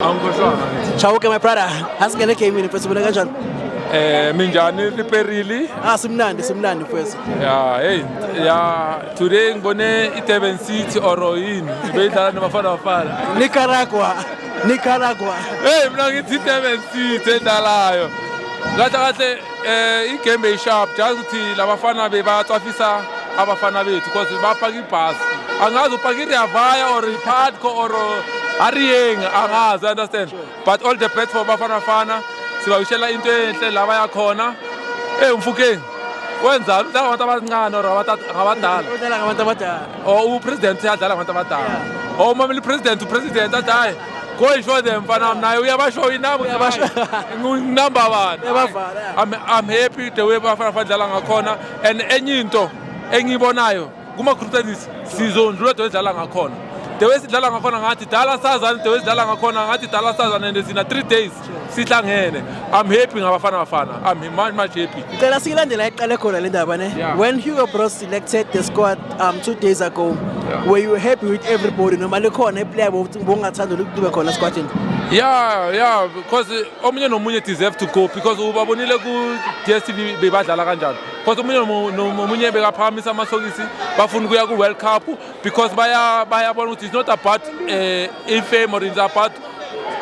Chauke my brother, asingene game ni mfethu mina kanjani? Eh minjani liperili? Ah simnandi simnandi mfethu. Yeah, hey, yeah, today ngibone iDurban City or yini? Beyidlala nabafana bafana. Nicaragua. Nicaragua. Hey mina ngithi iDurban City endalayo. Kahle kahle Eh igame eyisharp just ukuthi labafana bebatsafisa abafana bethu because bapaka ibhasi angazi upaka ireavaya or ipadco or hariyeng angazi understand but all the best for bafana bafana sibawishela into enhle la baya khona eyi umfukeni wenzani udlala ngabantu abancane or ngabadala udlala ngabantu abadala or upresident adlala ngabantu abadala or umameli president upresident athi hayi Go and show them mfana wami naye uyabashow inabo Uyabasho- nginamba bani Uyabavala, yeah. I'm, I'm happy the way bafana badlala ngakhona and enye into engiyibonayo kuma-group stages sizondlula the way sidlala ngakhona the way sidlala ngakhona ngathi dala sazane the way sidlala ngakhona ngathi dala sazane and thina three days sihlangene i'm happy ngabafana bafana i'm much much happy ngicela siyilandela iqale khona le ndaba ne yeah. when hugo bros selected the squad um two days ago yeah. were you happy with everybody noma likhona iplayer bongathanda ukube khona esquadini yeah yeah because omunye nomunye deserve to go because ubabonile ku-dstv bebadlala kanjani because omunye nomunye bekaphakamisa amasokisi bafuna ukuya ku-world cup because bayabona baya ukuthi it's not about uh, eh, infame or it's about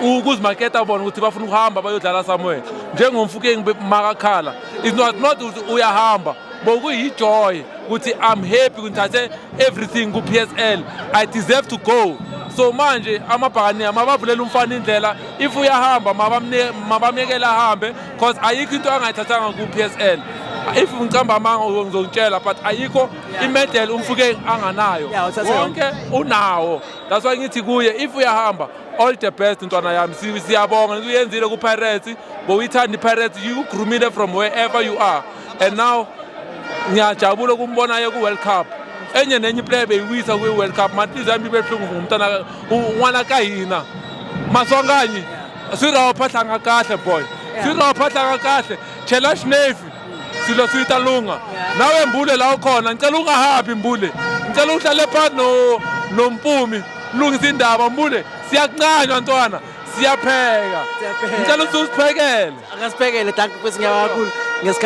ukuzimaketa bona ukuthi bafuna ukuhamba bayodlala somewhere njengomfukeng makakhala is not not ukuthi uyahamba bokuyijoy ukuthi i'm happy ngithathe everything ku-psl i deserve to go so manje amabhakaniya mabavulela umfana indlela if uyahamba mabamyekele ahambe because ayikho into angayithathanga ku-psl if ngicamba amanga ngizokutshela but ayikho imedel umfukeng anganayo wonke unawo That's why ngithi kuye if uyahamba all the best ntwana yami siyabonga ngithi uyenzile ku-pirates bowuyithanda i-pirates you groomile from wherever you are and now ngiyajabula ukumbonayo ku-world cup enye nenye iplayer beyiwisa kwi-world cup manhliziyo yami ibe buhlungu ngumntana un'wana ka hina maswanganyi swi raho phahlanga kahle boy swi raho phahlanga kahle chela xinefi silo siyita lunga nawe mbule la ukhona ngicela ungahabi mbule ngicela uhlale phansi no nompumi lungisa indaba mbule siyakuncanywa ntwana siyapheka ngicela ukuthi usiphekele akasiphekele danki kwesinye kakhulu ngesikhathi